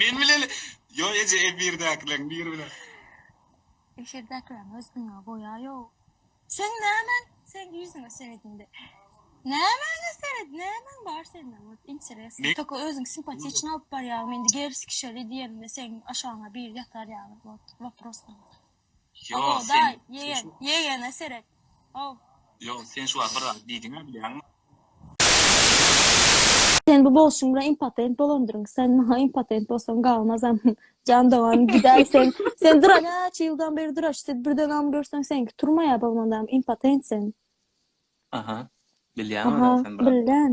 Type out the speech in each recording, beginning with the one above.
Men bilen Ýok eje efirdäkileriň biri bilen. Efirdäkileriň özüniňe boýa ýok. Seň nämäň seň ýüzüňe seredinde nämäňe seret nämäň bar sende ot interesno toka özüň simpatiçny alyp barýaňmy indi gerski şeli diýenimde seň aşagyňa biri ýatar ýaly ot waprosno. Ýok, sen, sen şu... Ýegene seret. Ow. Ýok, sen şu wagt bir zat diýdiň-ä, bilýäňmi? Sen bu bolşuň bilen impotent bolandyryň. Sen maňa impotent bolsaň galmazam. Jan dogan, gidäý sen. Sen dura näçe ýyldan beri duraş. Sen birdenem görseň seňki turmaýa bolmandam, impotent sen. Aha. Bilýäň ölen sen, brat. Aha, bilýän.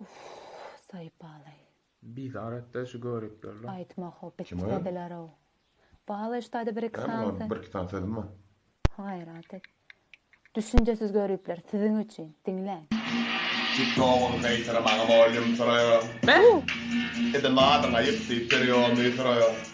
Uuhh Saýpaly. Bizar etdi şu göriplerler. Aýtma ho bitiredilerow. Bala ştada bir iki sany. Näme bir iki sany sözüm bar. Gaýrat et. Düşünjesiz göripler siziň üçin diňläň. Tiktogyň gaýtyrmagy bolýum soraýar. Edil adyň aýyp diýip berýomy soraýar.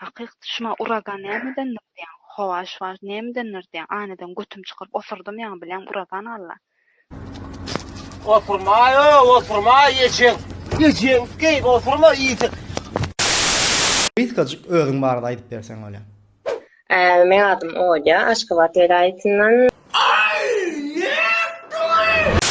Hakyk düşman uragan nämedendir diýäň howa şu wagt nämedendir diýäň aýnadan götüm çykyryp oturdym ýaňy bileň uragan alla. Oturmaý o oturmaý geçiň geçiň geýik oturma iýjek. Gysgajyk özüň barada aýdyp berseň bolýa. Meň adym Olýa, Aşgabat welaýatyndan. Aý, nätdiňiz?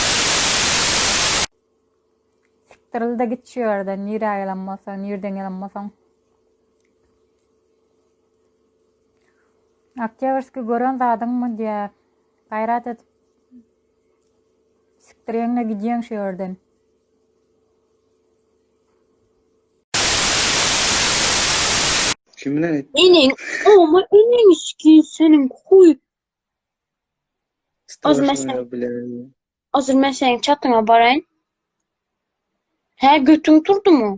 Sikdirl de git şu ýerden, nirä gelen bolsaň, nirden gelen bolsaň. Oktýabrskiý gören zadyňmy diýä. Gaýrat edip sikdirýeňle gidýeň şu ýerden. Kim bilen aýtdy? Eneň oňa eneňiçkin seniň huý Ozür men seniň Ozür men seniň çatyňa baraýyn. Hä, götüň turdumy?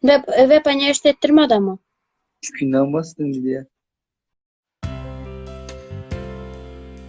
Web web anýerist etdirme adamy. Spindan basdym diýýär.